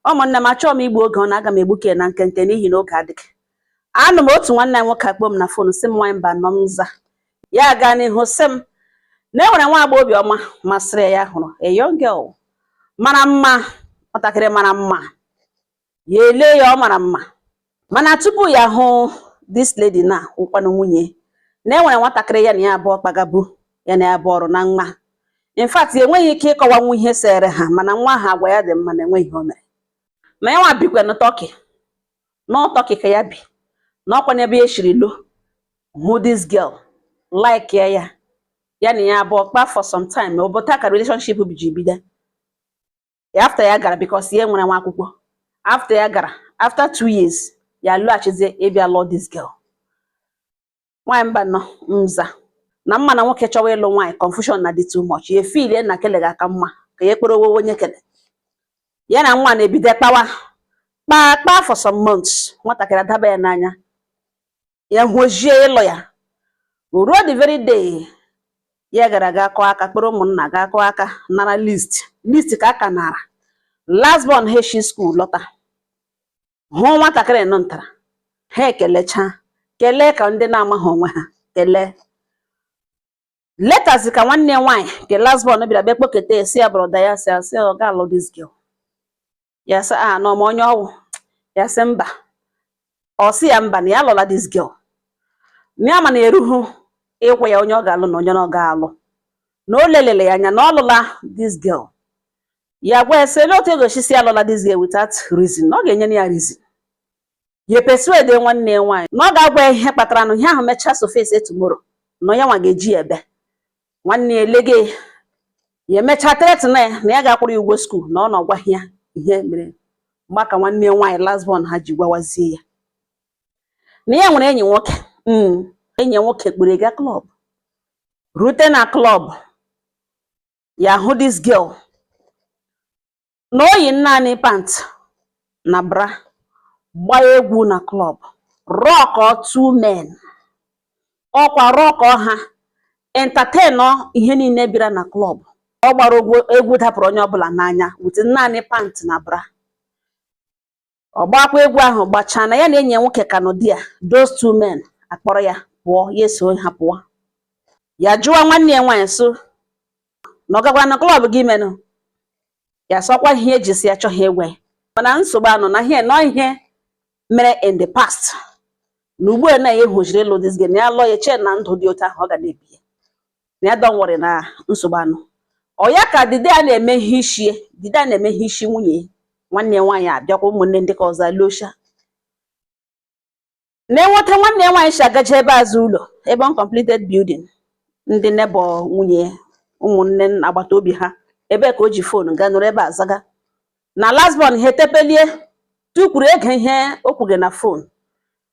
ụmụnne m achọghị m igbu oge ọ na aga m egbuke na nkenke n'ihi na oge adịghị anụ m otu nwanne m nwoke akpọ m na fon sị m nwaanyị Mbano m za ya gaa n'ihu sị m na e nwere nwa agbọghọ obiọma masịrị ya hụrụ a young girl mara mma nwatakịrị mara mma ya ele ya ọ mara mma mana tupu ya hụ this lady na ụkwanụ nwunye na enwere nwatakịrị ya na ya abụọ kpagabu ya na ya bụ ọrụ na nwa in fact enweghị ike ịkọwanwu ihe sere ha mana nwa ahụ agwa ya dị mma na enweghị ihe o mere ma ya nwa bikwa na Turkey na Turkey ka ya bi na ọkwa n'ebe ya shiri lọ hụ this girl like ya ya na ya abụọ kpa for some time ọ bụ otu a ka relationship ji bido after ya gara because ya nwere nwa akwụkwọ after ya gara after two years ya lọghachizie ịbịa lụọ this girl nwaanyị Mbano m za na m ma na nwoke chọwa ịlụ nwaanyị confusion na-adị too much ya feel na kele ga aka mma ka ya ekpere owowo onye kele ya na nwa na-ebido kpawa kpaa kpaa for some months nwatakịrị adaba ya n'anya ya họzie ịlụ ya ruo the very day ya gara ga akụ aka kpọrọ ụmụnna ga kụọ aka nara list list ka a ka nara last born ha eshi school lọta hụ nwatakịrị nọ ntara ha ekelechaa kelee ka ndị na-amaghị onwe ha kelee later zi ka nwanne nwaanyị nke last born bịara bịa kpọketa sị ya brother ya sị asị ọ ga-alụ this girl ya sị a na ọ ma onye ọ wụ ya sị mba ọ sị ya mba na ya alụla this girl na ya ma na erughị ịgwa ya onye ọ ga-alụ na onye ọ ga-alụ na o lelele ya anya na ọ lụla this girl ya gwa ya sị ele otu ị ga-esi sị alụla this girl without reason na ọ ga-enye ya reason ya persuade nwanne ya nwaanyị na ọ ga-agwa ya ihe kpatara na ihe ahụ mechaa surface tomorrow na ọ ya nwa ga-eji ya ebe nwanne ya lege ya emechaa threaten ya na ya ga-akwụrụ ya ụgwọ school na ọ na ọ gwaghị ya ihe mere mgbe a ka nwanne ya nwaanyị last born ha ji gwawazie ya na ya nwere enyi nwoke hmm, enyi nwoke kpọrọ ga club rute na club ya hụ this girl na o yi naanị pant na bra gbaa egwu na club rock two men ọ kwa rock ha entertain ihe niile bịara na club ọ gbara egwu dapụrụ onye ọbụla n'anya with naanị pant na bra ọ gbakwa egwu ahụ gbachaa na ya na enyi ya nwoke ka nọ there those two men akpọrọ ya pụọ ya eso ha pụọ ya jụwa nwanne ya nwaanyị so na ọ gakwara na club gị menụ ya sị ọ kwa ihe eji sị ya achọghị ịgwa ya mana nsogbu anọ na ihe na ọ ihe mere in the past na ugbu a na ya ehojiri ịlụ this girl ya lụọ ya chee na ndụ dị otu ahụ ọ ga na-ebi ya na ya don't worry na nsogbu anọ ọ ya ka the day a na-eme ihe ishi the day a na-eme ihe ishi nwunye nwanne ya nwaanyị abịakwa ụmụnne ndị ka ọzọ alọcha na-enweta nwanne ya nwaanyị si agaje ebe azụ ụlọ ebe uncompleted building ndị neighbor nwunye ụmụnne agbata obi ha ebe ka o ji phone gaa nọrọ ebe azaga na last born ha etepelie tukwuru ege ihe o kwuge na phone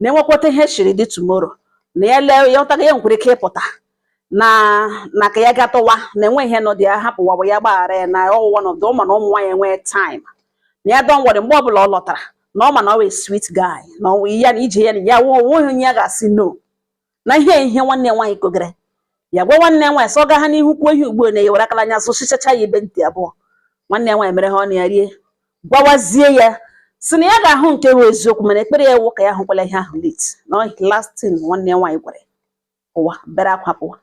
na enwekwata ihe shiri dị tomorrow na ya lee ya ọtaga ya nwekwara ike ịpụta na na ka ya gatọwa na enwe ihe nọ dị ya hapụ wabụ ya gbaghara ya na ọ wụ one of the ọ ma na ụmụ nwaanyị enwee time na ya don't worry mgbe ọbụla ọ lọtara na ọ ma na ọ wụ a sweet guy na ọ wụ ya na ije ya na ya onweghị onye ya ga-asị no na ihe ihe nwanne nwaanyị kogere ya gwa nwanne ya nwaanyị sị ọ ga ha n'ihu kwuo ihe ugbu a na ya ewere akala anya sụchichacha ya ibe ntị abụọ nwanne ya nwaanyị mere ha ọnụ ya rie gwawazie ya si na ya ga-ahụ nke bụ eziokwu mana ekpere ya wụ ka ya hụkwala ihe ahụ late na last thing nwanne ya nwaanyị gwara ụwa bere akwa pụwa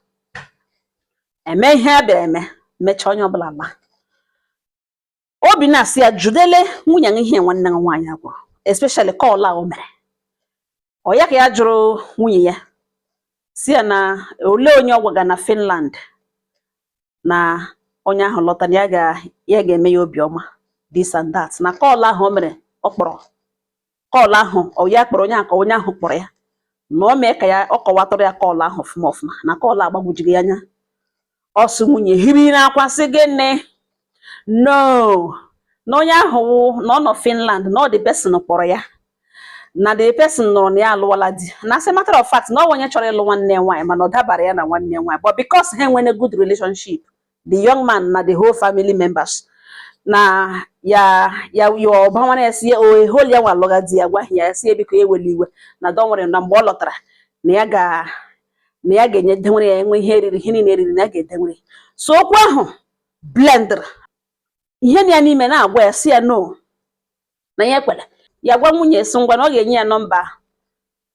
eme ihe a bịara eme mechaa onye ọbụla laa obi na-asị ya jụdele nwunye gị ihe nwanne gị nwaanyị a gwụrụ especially call a o mere ọ ya ka ya jụrụ nwunye ya si ya na olee onye ọ gwaga na Finland na onye ahụ lọta na ya ga-eme ya obiọma this and that na call ahụ o mere ọ kpọrọ call ahụ ọ ya kpọrọ onye a ka ọ onye ahụ kpọrọ ya na ọ mee ka ya ọ kọwatụrụ ya call ahụ ọfụma ọfụma na call agbagwojughị ya anya ọ sị nwunye hiri n'akwa sị gịnị no na onye ahụ wụ na ọ nọ Finland na ọ the person kpọrọ ya na the person nụrụ na ya alụwala di na as a matter of fact na ọ onye chọrọ ịlụ nwanne ya nwaanyị mana ọ dabara ya na nwanne ya nwaanyị but because ha nwere good relationship the young man na the whole family members na ya ya ya ọba nwana ya si ya o eholi ya nwa alụga di ya gwaghị ya ya si ya biko ewela iwe na don't worry na mgbe ọ lọtara na ya ga na ya ga-enye dewere ya enwe ihe eriri ihe niile eriri na ya ga-edewere so okwu ahụ blendr ihe na ya n'ime na-agwa ya si ya no na ya ekwere ya gwa nwunye si ngwa na ọ ga-enye ya nọmba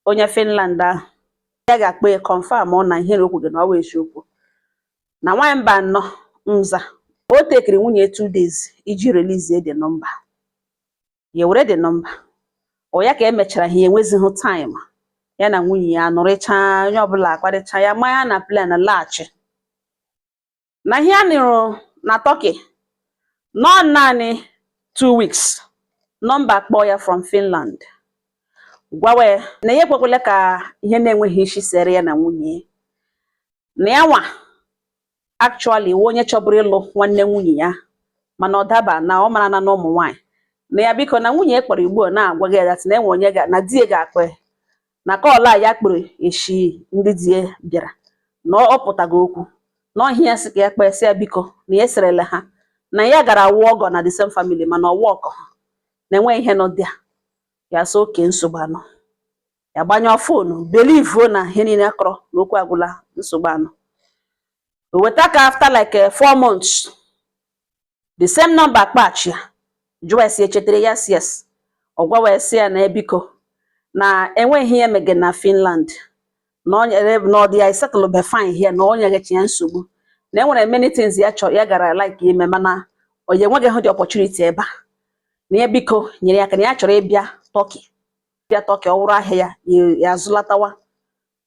onye Finland ahụ ya ga-akpọ ya confirm ọ na ihe o kwuge na ọ bụ eziokwu na nwaanyị mba no answer o tekiri nwunye two days iji release the number ya were the number ọ ya ka emechara ha enwezighị time ya na nwunye ya nọrịchaa onye ọbụla akparịcha ya manye na plane laghachi na ya nọrọ na Turkey nọọ naanị two weeks nọmba kpọọ ya from Finland gwawe na ya ekwekwele ka ihe na-enweghị isi sere ya na nwunye na ya nwa actually wụ onye chọburu ịlụ nwanne nwunye ya mana ọ daba na ọ mara na na ụmụ nwaanyị na ya biko na nwunye kpọrọ ugbu a na-agwaga ya na enwe onye na di ya ga-akpọ na call a ya kpọrọ eshi ndị di ya bịara na ọ pụtago okwu na ọ ihe ya sị ka ya kpee sị ya biko na ya eserele ha na ya gara awụ ọgọ na the same family mana ọwa ọkọ ha na enweghị ihe nọ dị a ya sị okay nsogbu anọ ya gbanyụọ phone believe na ihe niile akọrọ na okwu agwụla nsogbu anọ o weta ka after like eh, four months the same number akpọchi ya jụwa sị echetere ya yes ọ gwawa sị ya na ya biko na enweghị ihe ya mege na Finland na ọ nyere na ọ dị ya settle be fine here na o nyegechi ya nsogbu na enwere many things ya chọrọ ya gara like ime mana ọ ya enweghị hụ the opportunity ebe a na ya biko nyere ya aka na ya chọrọ ịbịa Turkey bịa Turkey ọ wụrụ ahịa ya ya azụlatawa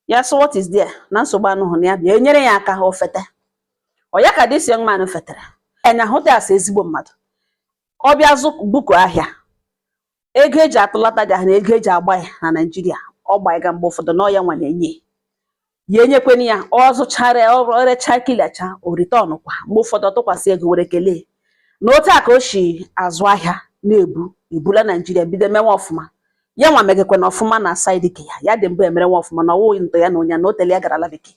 ya sị what is there na nsogbu anọhụ na ya bịa enyere ya aka o fete ọ ya ka this young man fetere ya ahụta ya as ezigbo mmadụ ọ bịa zụ buku ahịa ego eji atụlata ya na ego eji agba ya na Nigeria ọ gba ga mgbe ụfọdụ na ọ ya nwa na-enye ya enyekwana ya ọ zụchara ya o recha clearcha o return kwa mgbe ụfọdụ ọ tụkwasị ego were kelee na otu a ka o si azụ ahịa na-ebu ebula Nigeria bido mewe ọfụma ya nwa megekwe na ọfụma na side ke ya ya dị mbụ emere nwa ọfụma na ọ wụghị ntọ ya na onye na o tele ya gara ala bekee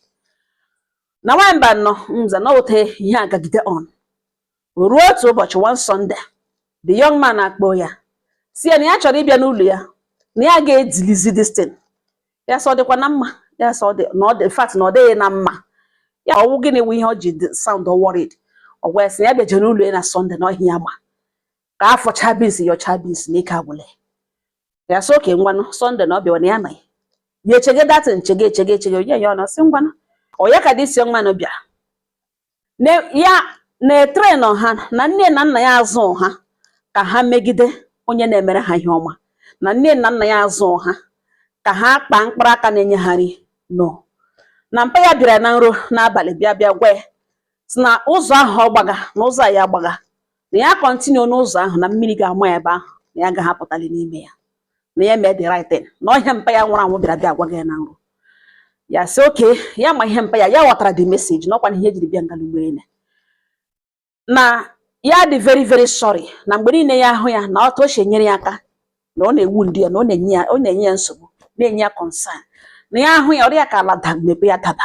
na nwaanyị mba nọ nza na ote ihe agagide on ruo otu ụbọchị one Sunday the young man akpọọ ya sị ya na ya chọrọ ịbịa n'ụlọ ya na ya ga-edilizi this thing ya sị ọ dịkwa na mma ya sị ọ dị na ọ dị in fact na ọ dịghị na mma ya ọ wụ gịnị wụ ihe ọ ji sound worried ọ gwa ya sị ya bịaje n'ụlọ ya na Sunday na ọ ihe a ya ma ka a fụchaa beans yọchaa beans na ike agwụla ya sị okay ngwanụ Sunday na ọ bịawa na ya amaghị ya echege that thing nchege echege echege onye ya ọnụ sị ngwanụ ọ ya ka this young man bịa ya na-etrain ha na nne na nna ya azụ ha ka ha megide onye na-emere ha ihe ọma na nne na nna ya azụ ha ka ha kpaa mkpụrụ aka na-enye ha nri no na mpa ya bịara na nrọ n'abalị bịa bịa gwa ya sị na ụzọ ahụ ọ gbaga na ụzọ a ya gbaga na ya continue n'ụzọ ahụ na mmiri ga-ama ya ebe ahụ na ya agaghị apụtali n'ime ya na ya mee the right thing na ọ ihe a mpa ya nwụrụ anwụ bịara bịa gwa ya na nrọ ya sị okay ya ma ihe mpa ya ya ghọtara the message na ọ kwa na ihe ejiri bịa nga ugbua na ya dị very very sorry na mgbe niile ya ahụ ya na otu o si enyere ya aka na ọ na-ewute ya na ọ na-enye ya ọ na-enye ya nsogbu na-enye ya concern na ya ahụ ya ọ rị ya ka ala da mepee ya daba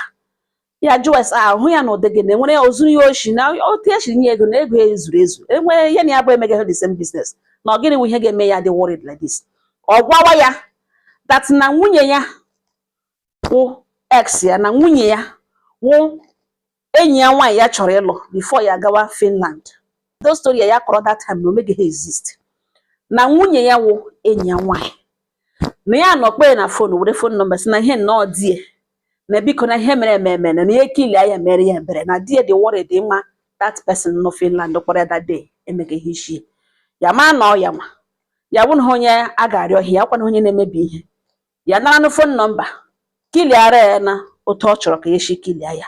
ya jụọ ese ahụ ya na ụdị gị na enwere ya o zuru ya oshi na otu e siri nye ego na ego ya ezuru ezu enwere ihe na ya bụ emegaghị the same business na ọ gịnị bụ ihe ga-eme ya dị worried like this ọ gwawa ya that na nwunye ya wụ ex ya na nwunye ya wụ enyi ya nwaanyị ya chọrọ ịlụ before ya gawa Finland those story ya kọrọ that time na o megaghị exist na nwunye ya wụ enyi ya nwaanyị na ya nọkpe na phone were phone number si na ihe nnọọ di ya na biko na ihe mere eme eme na ihe kilia ya mere ya ebere na di ya dị worried ịma that person nọ Finland kpọrọ ya that day emeghị ihe isi ya ma na ọ ya nwa ya bụ na onye a ga-arịọ ihe ya kwana onye na-emebi ihe ya nara na phone number kiliara ya na otu ọ chọrọ ka ya si kilia ya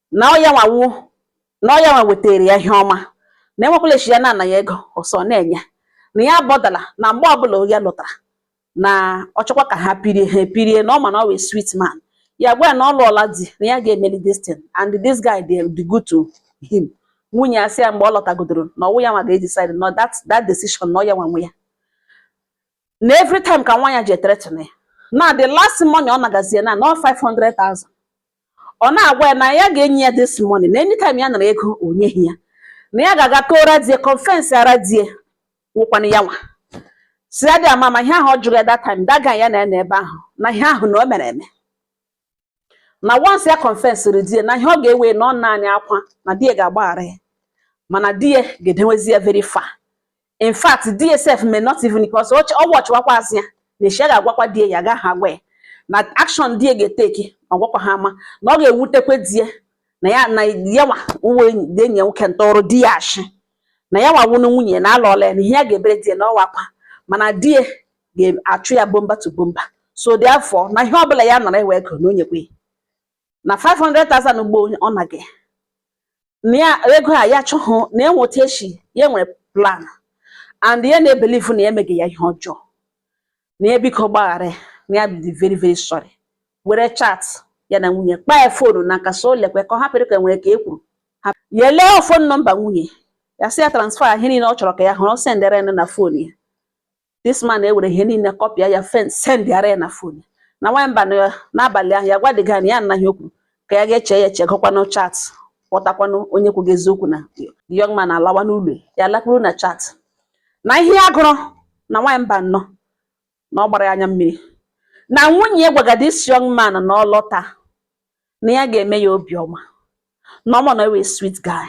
na ọ yanwa wụ na ọ yanwa wetaara ya ihe ọma na enwekwala echi ya na-ana ya ego ọsọ na-enye na ya bọdala na mgbe ọbụla ya lọtara na ọ chọkwa ka ha pirie ha epirie na ọ ma na ọ wụ sweet man ya gwa ya na ọ lụọla di na ya ga-emeli this thing and this guy dị dị good to him nwunye ya sị ya mgbe ọ lọtagodoro na ọ wụ ya nwa ga-edecide na that that decision na ọ ya nwa nwe ya na every time ka nwanyị a ji ethreaten ya na the last money ọ nagazie na na ọ 500,000 ọ na-agwa ya na ya ga-enye ya this money na anytime ya nara ego o nyeghị ya na ya ga-aga kọọra di ya confessịara di ya nwụkwana ya nwa sị ya dị ama ma ihe ahụ ọ jụrụ ya that time that guy ya na ya na ebe ahụ na ihe ahụ na o mere eme na once ya confessịrị di ya na ihe ọ ga-ewe na ọ naanị akwa na di ya ga-agbaghara ya mana di ya ga-edewezi ya very far in fact di ya self may not even because ọ wọchịwakwa asị ya na echi a ga-agwakwa di ya ya agaghị agwa ya na action di ya ga-eteki ọ gwakwa ha ama na ọ ga-ewutekwa di ya na ya na ya nwa wụ enyi ya nwoke ntọrọ di ya ashị na ya nwa wụnụ nwunye na alụọla ya na ihe ya ga-ebere di ya na ọ wụ akwa mana di ya ga-achụ ya bumper to bumper so therefore na ihe ọbụla ya nọrọ ewe ego na o nyekwe na 500,000 ugbo ọ na gị na ya ego a ya chọhụ na enweta echi ya nwere plan and ya na-ebelieve na ya emeghị ya ihe ọjọọ na ya biko gbaghara na ya dị very very sorry were chat ya na nwunye kpaa ya fonu n'aka so lekwe ka ọ hapụrụ ka nwere ka e kwuru ya lee phone number nwunye ya sị ya transfer ihe niile ọ chọrọ ka ya hụrụ sendere na phone ya this man ewere ihe niile kọpịa ya fen sendịara ya na phone na nwanyị mba n'abalị ahụ ya gwa the guy na ya anaghị okwu ka ya ga-eche ya eche gụkwanụ chat kpọtakwanụ onye kwughị eziokwu na the young man alawa n'ụlọ ya lakpuru na chat na ihe ya gụrụ na nwanyị mba nnọọ na ọ gbara ya anya mmiri na nwunye ya gwagara this young man na ọ lọta na ya ga-eme ya obiọma na ọ ma na ya wụ sweet guy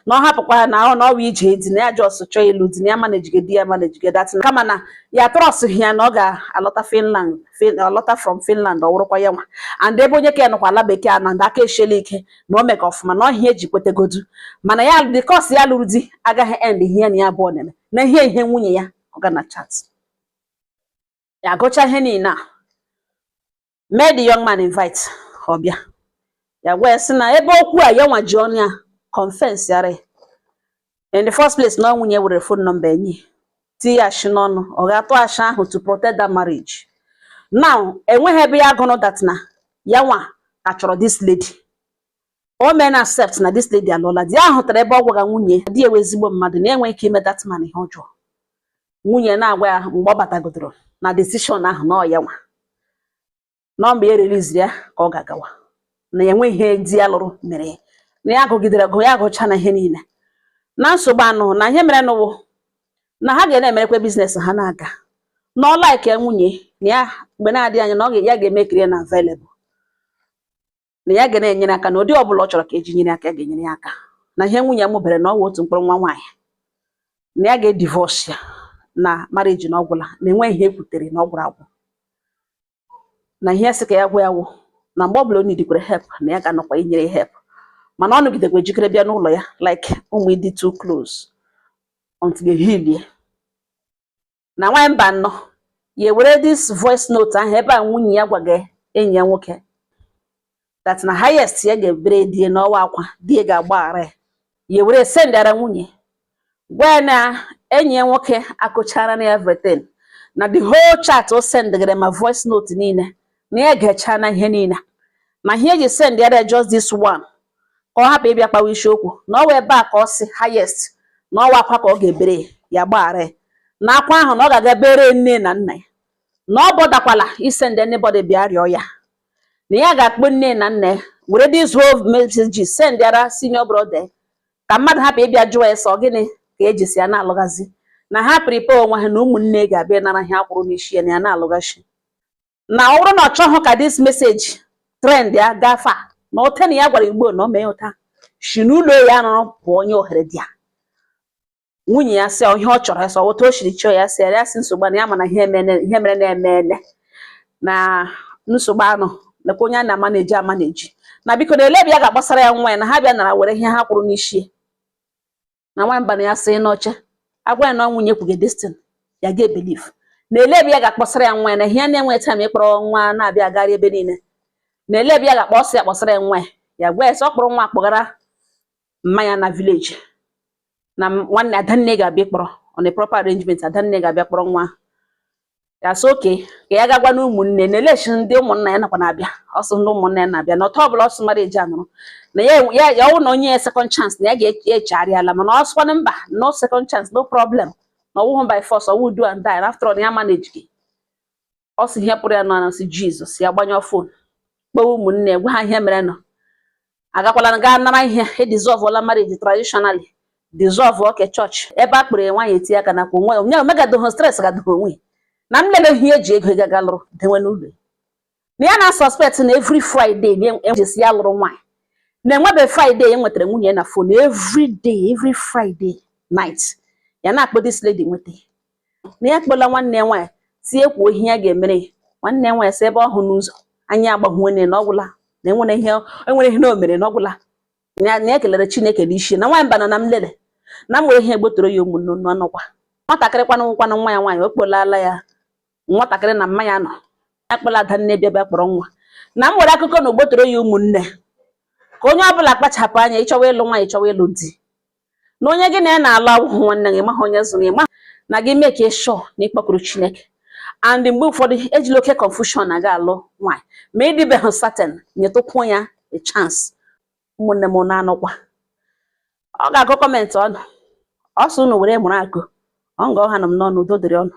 na ọ hapụkwa ya na ọ na ọwa ije di na ya just chọọ ịlụ di na ya manejige di ya manejige that thing kama na ya trọsụghị ya na ọ ga-alọta Finland ọ lọta from Finland ọ wụrụkwa ya nwa and ebe onye ka ya nọkwa ala bekee a na ndị aka eshela ike na o meka ọfụma na ọ ihe e ji kwetegodu mana ya because ya lụrụ di agaghị end ihe ya na ya abụọ na-eme na ihe ihe nwunye ya ọ ga na chat ya gụcha ihe niile a mee the young man invite ọ bịa ya gwa ya sị na ebe okwu a ya nwa ji ọnụ ya confess yara in the first place na nwunye were phone number enyi tinye ya ashị n'ọnụ ọ ga-atụ ashị ahụ to protect that marriage now enweghị ebe ya gụrụ that na ya nwa achọrọ this lady o mee na accept na this lady alụọla di hụtara ebe ọ gwaga nwunye di e wụ ezigbo mmadụ na enweghị ike ime that man ihe ọjọọ nwunye na-agwa ya mgbe ọ batagodoro na decision ahụ na ọ ya nwa na mgbe ya release ya ka ọ ga-agawa na ya enweghị ihe di ya lụrụ mere ya na ya gụgidere gụ ya gụcha na ihe niile na nsogbu anọ na ihe merenụ wụ na ha ga na-emerekwa business ha na-aga na ọ like nwunye na ya mgbe na-adịghị anya na ọ ga- ya ga-emekiri ya na available na ya ga na-enyere aka na ụdị ọ bụla ọ chọrọ ka e ji nyere aka ga-enyere ya aka na ihe nwunye ya mụbere na ọ wụ otu mkpụrụ nwa nwaanyị na ya ga-edivorce ya na marriage na ọ gwụla na enweghị ihe e kwutere na ọ gwụrụ agwụ na ihe sị ka ya gwa ya wụ na mgbe ọbụla o needkwara help na ya ga-anọkwa inyere ya help mana ọ nọgidekwa ejikere bịa n'ụlọ ya like ụmụ ịdị too close until they heal ya na nwaanyị mba anọ ya ewere this voice note ahụ ebe a nwunye ya gwaga enyi ya nwoke that na highest ya ga-ebere di e na ọ wụ akwa di e ga-agbaghara ya ya ewere sendara nwunye gwa ya na enyi ya nwoke akọchara na everything na the whole chat o sendgara ma voice note niile na ya gechala ihe niile na ihe e ji send ya just this one ka ọ hapụ ịbịa kpawa isiokwu na ọ wụ ebe a ka ọ sị highest na ọ wụ akwa ka ọ ga-ebere ya gbaghara na akwa ahụ na ọ ga-aga bere nne na nna ya na ọ botherkwala isend anybody bịa rịọ ya na ya ga-akpọ nne na nna ya were these whole messages send yara senior brother ka mmadụ hapụ ịbịa jụọ ya sị ọ gịnị ka e ji sị ya na-alụghazi na ha prepare onwe ha na ụmụnne ga-abịa nara ihe a kwụrụ n'isi ya na ya na-alụghachi na ọ bụrụ na ọ chọghị ka this message trend ya gafe a na ote na ya gwara igbo na o mee ụta si n'ụlọ ya nọrọ pụọ onye ohere dị ya nwunye ya sị ihe ọ chọrọ sọ otu o siri chọọ ya sị ya sị nsogbu na ya mana ihe mere na-eme ele na nsogbu anọ nakwa onye a na-ama na-eji ama na-eji na biko na ele ebe ya ga-agbasara ya nwa ya na ha bịa nara were ihe ha kwụrụ n'isi na nwamba na ya sị n'ọcha agwa ya na ọ nwunye kwuge destin ya ga-ebelieve na ele ebe ya ga-akpọsara ya nwa ya na ihe ya na-enwe time ịkpọrọ nwa na-abịa agarị ebe niile na ele ebe ya ga-akpọsị ya kpọsara ya nwa ya ya gwa ya sị ọ kpọrọ nwa akpọgara mma ya na village na m- nwanne adanne ga-abịa kpọrọ on a proper arrangement adanne ga-abịa kpọrọ nwa ya sị okay ka ya gaa gwanụ ụmụnne na elechi ndị ụmụnna ya nakwa na-abịa ọ sị ndị ụmụnna ya na-abịa na ọtọ ọbụla ọsọ mara eji anụrụ na ya ya ya ọwụ na ọ nye ya second chance na ya ga-echegharịala mana ọ sịkwanụ mba no second chance no problem na ọwụhụ by force ọwụ do and die na after all na ya manage gị ọ sị ihe pụrụ ya n'ọnụ sị jizọs ya gbanyụọ fon kpọwa ụmụnne gwa ha ihe merenụ agakwala gaa nara ihe edizọvụla marriage traditionally dissolve oke chọọchị ebe a kpọrọ nwaanyị etinye aka nakwa onwe onye omegadoho stress gadoho onwe na m lele ihe eji ego gaga lụrụ dewe n'ụlọ na ya na-asuspect na every friday na-ejesi ya lụrụ nwaanyị na enwebe friday ya nwetara nwunye na fon every day every friday night ya na-akpọ this lady nweta na ya kpọla nwanne ya nwaanyị sị ya kwuo ihe ya ga-emere ya nwanne ya nwaanyị sị ebe ọ hụ n'ụzọ anyị agbahuo nne na ọgwụla na enwere ihe enwere ihe na o mere na ọgwụla na ya- na ya kelere chineke n'isi na nwaanyị bana na m lele na mgbe ihe egbotoro ya ụmụnne nọ nọkwa nwatakịrị kwanụ kwanụ nwa ya nwaanyị ọ kpọlala ya nwatakịrị na mma ya nọ ya kpọla adanne bịa bịa kpọrọ nwa na m nwere akụkọ na o gbotoro ya ụmụnne ka onye ọbụla kpachapụ anya ịchọwa ịlụ nwaanyị chọwa ịlụ di na onye gị na ya na-alụ awụghị nwanne gị maha onye zụrụ ya mana gị make sure na ị kpọkuru Chineke and mgbe ụfọdụ ejila oke confusion na-aga alụ nwaanyị ma ịdịbeghị certain nyetụkwuo ya a chance ụmụnne m na-anọkwa ọ ga-agụ comment unu ọ sị unu were mụrụ akọ ọ nga ọ hanụ m n'ọnụ udo dịrị unu